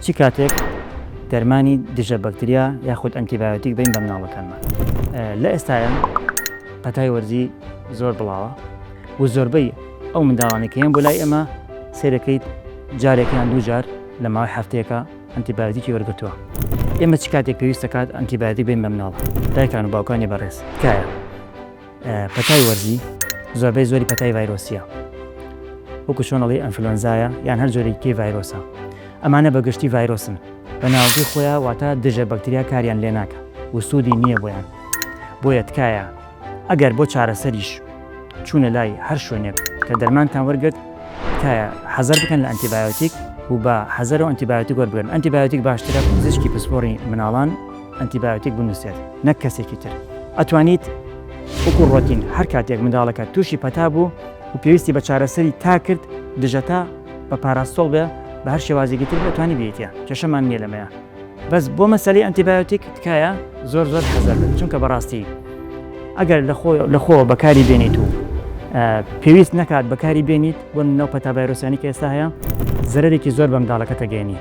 چ کاتێک دەرمانی دژە بەکتریا یاخود ئەنتیبایۆتیک بین بە مناڵەکانمان لە ئێستاە پەتای وەرزی زۆر بڵاوە و زۆربەی ئەو منداڵانی کە یان بۆ لای ئێمە سێدەکەیت جارێکیان دووجار لە ماوەی هەفتەیەەکە ئەنتیبایۆتیکی وەرگتووە ئێمە چ کاتێک پێویست دەکات ئەنتیبایۆتیک بین بە مناڵ دایکان و باوکانی بەڕێز تکایە پەتای وەرزی زۆربەی زۆری پەتای ڤایرۆسیە وەکو چۆن ئەڵی ئەنفلۆنزایە یان هەر جۆرێکی ڤایرۆسە ئەمانە بە گشتی ڤایرۆسن بە ناوگی خۆیان واتە دژە بەکتریا کاریان لێ ناکە و سوودی نییە بۆیان بۆیە تکایە ئەگەر بۆ چارەسەریش چوونە لای هەر شوێنێک کە دەرمانتان وەرگرت تکایە حەزەر بکەن لە ئەنتیبایۆتیک و بە حەزەر و ئەنتیبایۆتیک وەربگرن ئەنتیبایۆتیک باشترە پزیشکی پسپۆڕی مناڵان ئەنتیبایۆتیک بنوسێت نەک کەسێکی تر ئەتوانیت وەکو ڕۆتین هەر کاتێک منداڵەکەت توشی پەتا بوو و پێویستی بە چارەسەری تا کرد دژەتا بە پاراستۆڵ بێ بە هەر شێوازێکی تر بێ ئەتوانی بێیتە کێشەمان نیە لەمەیا بەس بۆ مەسەلەی ئەنتیبایۆتیک تکایە زۆر زۆر حەزەر بن چونکە بەڕاستی ئەگەر لە خۆ لە خۆ بەکاری بێنیت و پێویست نەکات بەکاری بێنیت بۆ ناو پەتا ڤایرۆسیانی کە ئێستا هەیە زەرەرێکی زۆر بە منداڵەکەتە گەێنی.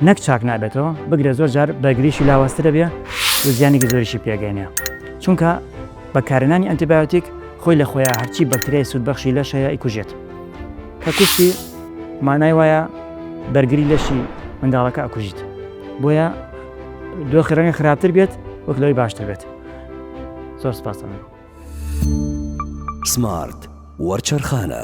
نەک چاک نابێتەوە بگرە زۆر جار بەرگریشی لاوازترە بێ و زیانێکی زۆریشی پێگەێنە چونکە بەکارنانی ئەنتیبایۆتیک خۆی لە خۆیان هەرچی بەکتریای سوودبەخشی لەش هەیە ئیکوژێت کە کوشتی مانای وایە بەرگری لەشی منداڵەکە ئەکوژیت بۆیە دۆخی ڕەنگە خراپتر بێت وەک لەوەی باشتر بێت زۆر سپاسەکە سمارت وەرچەرخانە